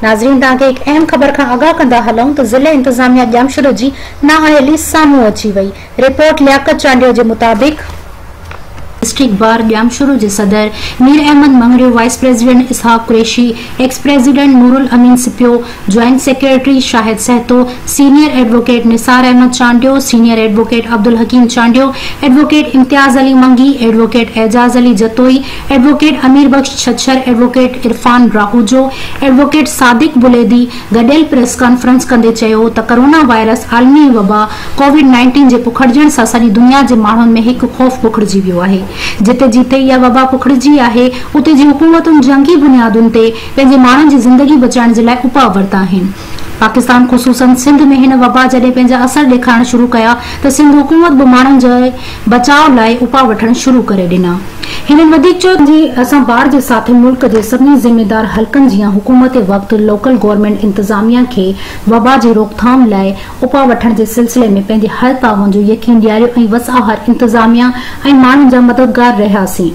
ناظرين توهان کي هڪ اهم خبر کان آگاهه ڪندا هلون ته ضلعي انتظاميا ڄامشورو جي نااهلي سامهون اچي وئي رپورٽ لياقت چانڊيو جي مطابق ڊسٽرڪٽ بار ڄامشورو جي صدر Mir Ahmed Mangrio, vice president Ishaq Qureshi, ex president Noorulamin Sipio, joint secretary Shahid Sahito, senior advocate Nisar Ahmed Chandio, senior advocate Abdulhakeem Chandio, advocate Imtiaz Ali Mangi, advocate Ejaz Ali Jatoi, advocate Amir Bux Chhachhar, advocate Irfan Rahoojo, advocate Sadiq Buledi, گڏيل پريس ڪانفرنس ڪندي چيو ته ڪورونا وائرس عالمي وبا ڪووڊ نائنٽين جي پکڙجڻ سان سڄي دنيا جي ماڻهن ۾ هڪ خوف پکڙجي ويو آهي جتي جتي اها وبا پکڙجي آهي اتي جي حڪومتن جنگي بنيادن تي پنهنجي ماڻهن جي زندگي بچائڻ جي لاء اپاء ورتا آهن پاڪستان خصوصن سنڌ ۾ هن وبا جڏهن پنهنجا اثر ڏيکارڻ شروع ڪيا ته سنڌ حڪومت به ماڻهن جي بچاء لاء اپاء وٺڻ شروع ڪري ڏنا. هنن وڌيڪ چيو ته اسان بار جي ساٿي ملڪ جي سڀني ذميوار حلقن جيان حڪومت وقت لوڪل گورنمينٽ انتظاميا کي وبا جي روڪٿام لاء اپاء وٺڻ جي سلسلي ۾ پنهنجي هر تعاون جو يقين ڏياريو ۽ وساهر انتظاميا ۽ ماڻهن جا مددگار رهياسين.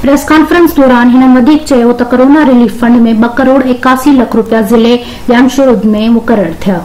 پريس ڪانفرنس دوران هنن وڌيڪ چيو ته ڪورونا رليف فنڊ ۾ ٻه ڪروڙ ايڪاسي لک روپيا ضلعي جمشورد ۾ مقرر ٿيا.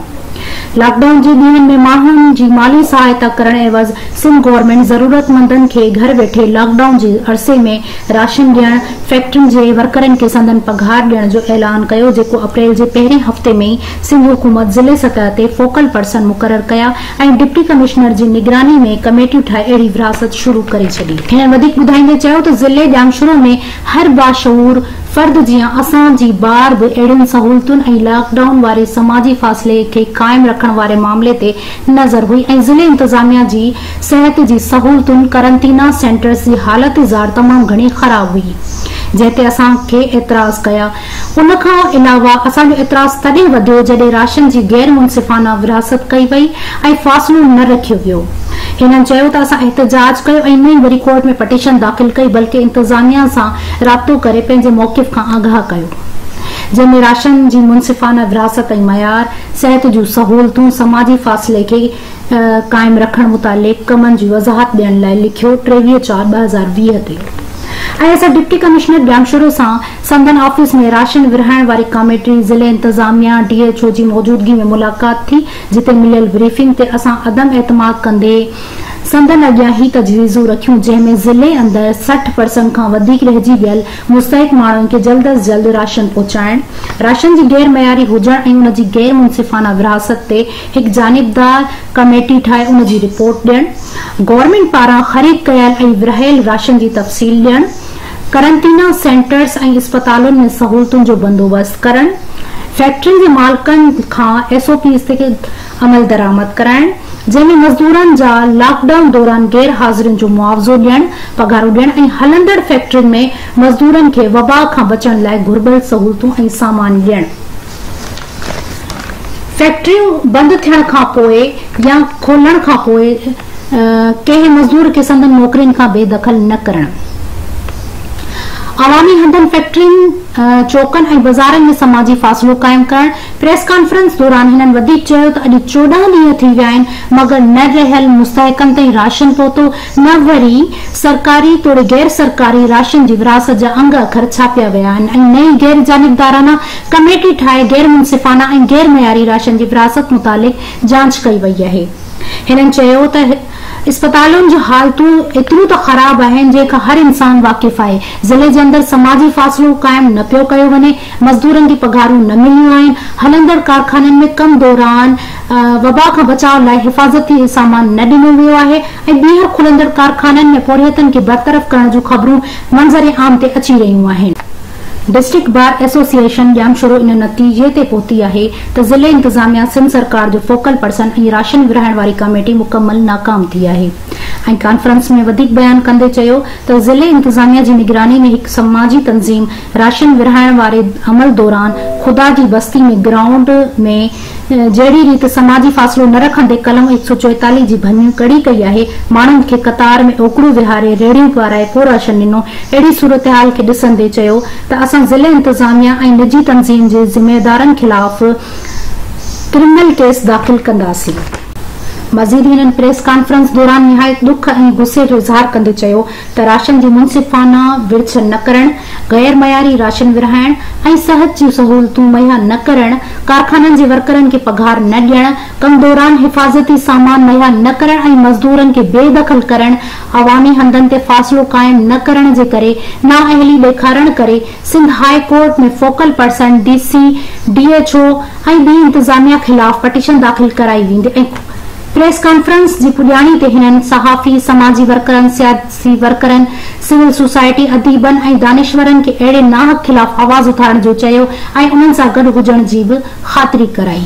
لاڪ ڊائون جي ڏينهن ۾ ماڻهن جي مالي سهائتا ڪرڻ عيوض سنڌ گورنمينٽ ضرورتمندن کي گهر ويٺي لاڪ ڊائون جي عرصي ۾ راشن ڏيڻ، فيڪٽرين جي ورڪرن کي سندن پگهار ڏيڻ جو اعلان ڪيو جيڪو اپريل جي پهرين هفتي ۾ ئي سنڌ حڪومت ضلعي سطح تي فوڪل پرسن مقرر ڪيا ۽ ڊپٽي ڪمشنر جي نگراني ۾ ڪميٽيون ٺاهي اهڙي ورهاست شروع ڪري ڇڏي. هن وڌيڪ ٻڌائيندي چيو ته ضلعي ڄامشورو ۾ هر باشعور فرد جيان اسان جي ٻار به اهڙين سهولتن ۽ لاڪ ڊائون واري سماجي فاصلي کي قائم رکڻ واري معاملي تي نظر هئي ۽ ضلعي انتظاميا جي صحت جي سهولتن قرنطينه سينٽرس جي حالت زار تمام گهڻي خراب هئي جنهن تي اسان کي اعتراض ڪيا ان کان علاوه اسان جو اعتراض تڏهن وڌيو جڏهن راشن جي غير منصفانه ورهاست ڪئي وئي ۽ فاصلو نه رکيو ويو. هنن چيو ته اسان احتجاج ڪيو ۽ نه ئي وري ڪورٽ ۾ پٽيشن داخل ڪئي بلڪه انتظاميا سان رابطو ڪري پنهنجي موقف کان آگاهه ڪيو جنهن ۾ راشن جي منصفانه ورهاست ۽ معيار، صحت جون سهولتون، سماجي فاصلي کي قائم رکڻ متعلق ڪمن جي وضاحت ڏيڻ لاء لکيو ٽيويهه چار ٻه هزار ويهه تي ۽ اسان ڊپٽي ڪمشنر ڄامشورو سان سندن آفيس ۾ راشن ورهائڻ واري ڪاميٽي، ضلعي انتظاميا، ڊي ايڇ او جي موجودگي ۾ ملاقات ٿي، جتي مليل بريفنگ تي اسان عدم اعتماد ڪندي سندن اڳيان هي تجويزون رکيون جنهن ۾ ضلعي اندر سٺ پرسنٽ کان وڌيڪ رهجي ويل مستحق ماڻهن کي جلد از جلد راشن پهچائڻ، راشن جي غير معياري هجڻ ۽ ان جي غير منصفانه ورهاست تي هڪ جانبدار ڪاميٽي ٺاهي ان جي رپورٽ ڏيڻ، گورنمينٽ پاران خريد ڪيل ۽ ورهايل راشن جي تفصيل ڏيڻ، قرنطينه سينٽرز ۽ اسپتالن ۾ سهولتن جو بندوبست ڪرڻ، فيڪٽرين جي مالڪن کان ايس او پيز تي عملدرآمد ڪرائڻ، جنهن ۾ مزدورن جا لاڪ ڊائون دوران غير حاضرين جو معاوضو ڏيڻ، پگهارون ڏيڻ ۽ هلندڙ فيڪٽرين ۾ مزدورن کي وبا کان بچڻ لاء گهربل سهولتون ۽ سامان ڏيڻ. فيڪٽريون بند ٿيڻ کانپوء يا کولڻ کانپوء ڪنهن مزدور کي سندن نوڪرين کان بي دخل نه ڪرڻ، عوامي هنڌن، فيڪٽرين، چوڪن ۽ بزارن ۾ سماجي فاصلو قائم ڪرڻ، پريس ڪانفرنس دوران هنن وڌيڪ چيو ته اڄ چوڏهن ڏينهن ٿي ويا آهن مگر نه رهيل مستحقن تائين راشن پهتو نه وري سرڪاري توڙي غير سرڪاري راشن جي ورهاست جا انگ اکر ڇاپيا ويا آهن ۽ نه ئي غير جانبدارانه ڪميٽي ٺاهي غير منصفانه ۽ غير معياري راشن جي ورهاست متعلق جانچ ڪئي وئي آهي. هنن چيو ته اسپتالن جون حالتون ايتريون ته خراب آهن جنهن کان هر انسان واقف آهي، ضلعي جي اندر سماجي فاصلو قائم نه پيو ڪيو وڃي، مزدورن کي پگهارون نه مليون آهن، هلندڙ ڪارخانن ۾ ڪم دوران وبا کان بچاء لاء حفاظتي سامان نه ڏنو ويو آهي ۽ ٻيهر کلندڙ ڪارخانن ۾ پورهيتن کي برطرف ڪرڻ جون خبرون منظر عام تي اچي رهيون آهن. ڊسٽرڪٽ بار ايسوسيئيشن ڄامشورو ان نتيجي تي پهتي آهي ته ضلعي انتظاميا سنڌ سرڪار جو فوڪل پرسن ۽ راشن ورهائڻ واري ڪاميٽي مڪمل ناڪام ٿي آهي ۽ ڪانفرنس ۾ وڌيڪ بيان ڪندي چيو ته ضلعي انتظاميا جي نگراني ۾ هڪ سماجي تنظيم راشن ورهائڻ واري عمل دوران خدا جي بستي ۾ گرائونڊ ۾ جهڙي ريت سماجي فاصلو نه رکندي قلم هڪ سؤ چوئيتاليهه جي ڀڃ ڪڙي ڪئي آهي، ماڻهن کي قطار ۾ اوڪڙو ويهاري ريڙهيون پارائي پوراشن ڏنو، اهڙي صورتحال کي ڏسندي چيو ته اسان ضلعي انتظاميا ۽ نجي تنظيم جي ذميوارن خلاف ڪرمنل ڪيس داخل ڪنداسين. مزيد هنن پريس ڪانفرنس دوران نهايت ڏک ۽ غصي جو اظهار ڪندي چيو ته راشن جي منصفانه ورڇ نه ڪرڻ، غير معياري راشن ورهائڻ ۽ صحت جون سهولتون مهيا نه ڪرڻ، ڪارخانن جي ورڪرن کي پگهار نه ڏيڻ، ڪم دوران حفاظتي سامان مهيا نه ڪرڻ ۽ مزدورن کي بي دخل ڪرڻ، عوامي هنڌن تي فاصلو قائم نه ڪرڻ جي ڪري نااهلي ڏيکارڻ ڪري Sindh high court ۾ focal person, D C, D H O ۽ ٻي انتظاميا خلاف پٽيشن داخل ڪرائي ويندي ۽ پريس ڪانفرنس جي پڄاڻي تي هنن صحافي، سماجي ورڪرن، سياسي ورڪرن، سول سوسائٽي، اديبن ۽ دانشورن کي اهڙي ناحق خلاف آواز اٿارڻ جو چيو ۽ انهن سان گڏ هجڻ جي به خاطري ڪرائي.